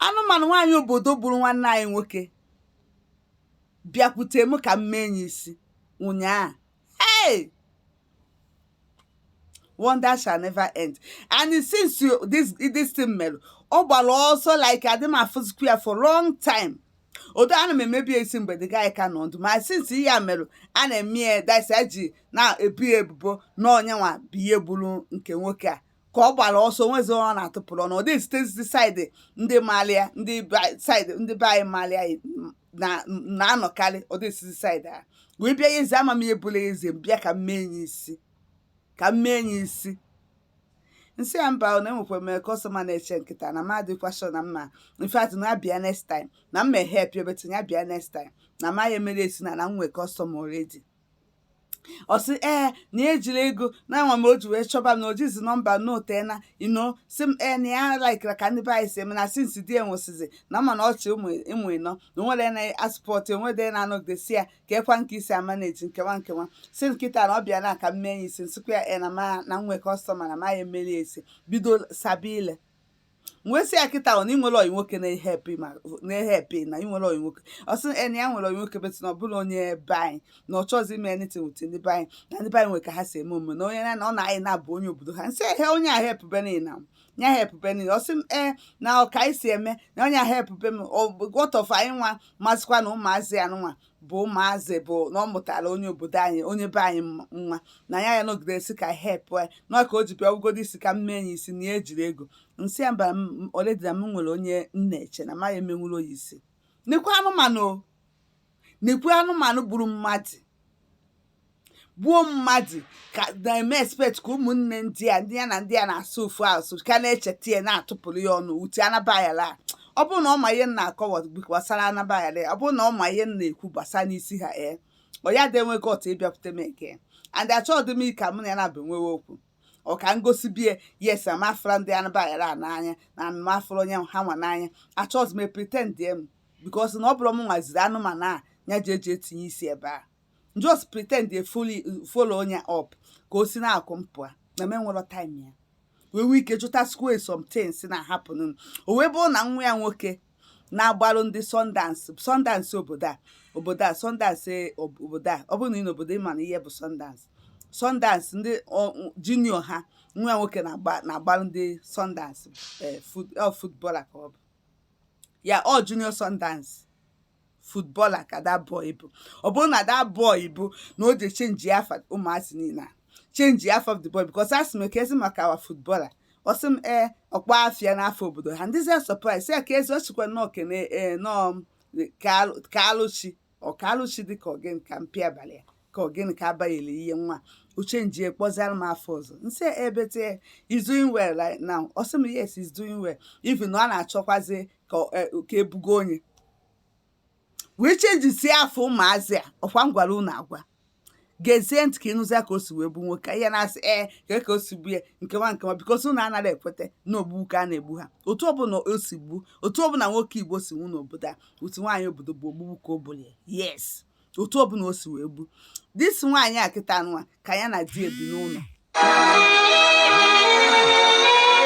anụmanụ nwaanyị obodo gburu nwanne anyị nwoke bịakwute m ka m mee ya isi ụnyaahụ hey wonder shall never end and since this thing mere ọ gbara ọsọ like adị m afụzikwa ya for long time although ana m emebu ya isi mgbe the guy ka nọ ndụ ma since ihe a mere a na-eme ya that's e ji na-ebo ya ebubo na ọ ya nwa bụ ihe gburu nke nwoke a ka ọ gbara ọsọ nwezi ọ na-atụpụrụ ọnụ ọ dịghị esitezi side ndị malụ ya ndị side ndị be anyị malụ ya na-anọkarị ọ dịghị esitezi side ha wee bịa ya eze ama m ihe bụla eze m bịa ka m mee ya isi ka m mee ya isi m sị ya mba na enwekwa m customer na-eche m kịta na m adịkwa sure na m ma in fact ya bịa next time na m ehelp ya but ya bịa next time na m ya-emere ya isi na na m nwee customer already ọ sị ee na ya ejiri ego na ama m o ji wee chọba m na o jizi number m na o tena you know sị m ee na ya likera ka ndị be anyị si eme na since di ya nwụsịzi na m ma na ọ chị ụmụ ụmụ ịnọ na o nwere na-asupport enwede na-anọgidesi ya ka ekwa nke isi amanage nke a nke a sị m kịta na ọ bịana ka m mee ya isi m sịkwa ya ee na ma na nwe customer na m aya emere ya isi bido sabe ile m wee sị ya kịta ọ na ị nwere ọyị nwoke na-ehelp ma na-ehelp na ị nwere ọyị nwoke ọ sị na ya nwere ọyị nwoke but na ọ bụrọ onye be anyị na ọ chọzi ime anything with ndị be anyị na ndị be anyị nwere ka ha si eme omume na onye na na ọ na-ayị na-abụ onye obodo ha m sị ehe onye ahụ helpụbe nụ na ya helpụbe nụ ọ sị m ee na ọ ka anyị si eme na onye ahụ helpụbe m what of anyị nwa masịkwa na ụmụazị ya nwa bụ ụmụazị bụ na ọ mụtara onye obodo anyị onye be anyị nwa na ya ya nọgide si ka help anyị na ka o ji bịa ọ bụgodi isi ka m mee ya isi na ya ejiri ego m sị ya mba already na m nwere onye m na-eche na m aya emenwuru ya isi nekwe anụmanụ nekwe anụmanụ gburu mmadụ gbuo mmadụ ka na-eme expect ka ụmụnne di ya ndị ya na di ya na-asụ ofu asụsụ ka na-echeta ya na-atụpụrụ ya ọnụ uche anabayala ọ bụrụ na ọ ma ihe m na-akọwa gbasara anabayala ọ bụrụ na ọ ma ihe m na-ekwu gbasara n'isi ha ee ọ ya adị enwe gut ịbịakwute m eke and achọghị m ka mụ na ya na-abụ enwewe okwu ọ ka m gosibe ya yes m afụrụ ndị anabayala n'anya na m afụrụ onye ha nwa n'anya achọghị m pretend m because na ọ bụrọ m nwa ziri anụmanụ a ya ji eje etinye isi ebe a just pretend dey follow ya up ka o si na-akụ mpụ a na m enwero time ya wee nwee ike jụtasịkwa ya some things na-ahappen o wee bụrụ na nwa ya nwoke na-agbarụ ndị Sundowns Sundowns obodo a obodo a Sundowns e, obodo a ọ bụrụ na ị nọ obodo ị mana ihe bụ Sundowns Sundowns ndị junior ha nwa ya nwoke na-agbarụ ndị Sundowns e, footballer ka ọ bụ ya ọ junior Sundowns footballer ka that boy bụ ọ bụrụ na that boy bụ na o je change afa ụmụazị niile a change afa of the boy because asị m kezi maka our footballer ọ sị m ee ọ kpa afịa n'afọ obodo ha m dịzia surprise ya ka ezi ọ chịkwa nnọọ kene ee nọọ ka alụchi ọ ka alụchi dị ka ọ gịnị ka mpi abalị ya ka ọ gịnị ka abaghịla ihe nwa uche nji ekpọziara m afa ọzọ m sị I bet he is doing well right now ọ sị m yes he's doing well even na ọ na-achọkwazi ka ọ- eh, ka ebugo onye wee changesi afa ụmụazị a ọkwa m gwara unu agwa gezie ntị ka ị nụzia ka o si wee gbu nwoke ihe na-asị ee ka ka o si gbu ya nke nwa nke nwa because unu anaghị ekweta na ogbu ka a na-egbu ha otu ọbụla o si gbu otu ọbụla nwoke Igbo si nwu n'obodo a otu nwaanyị obodo bụ ogbugbu ka o gburu ya yes otu ọbụla o si wee gbu this nwaanyị a kịta nwa ka ya na di ebi n'ụlọ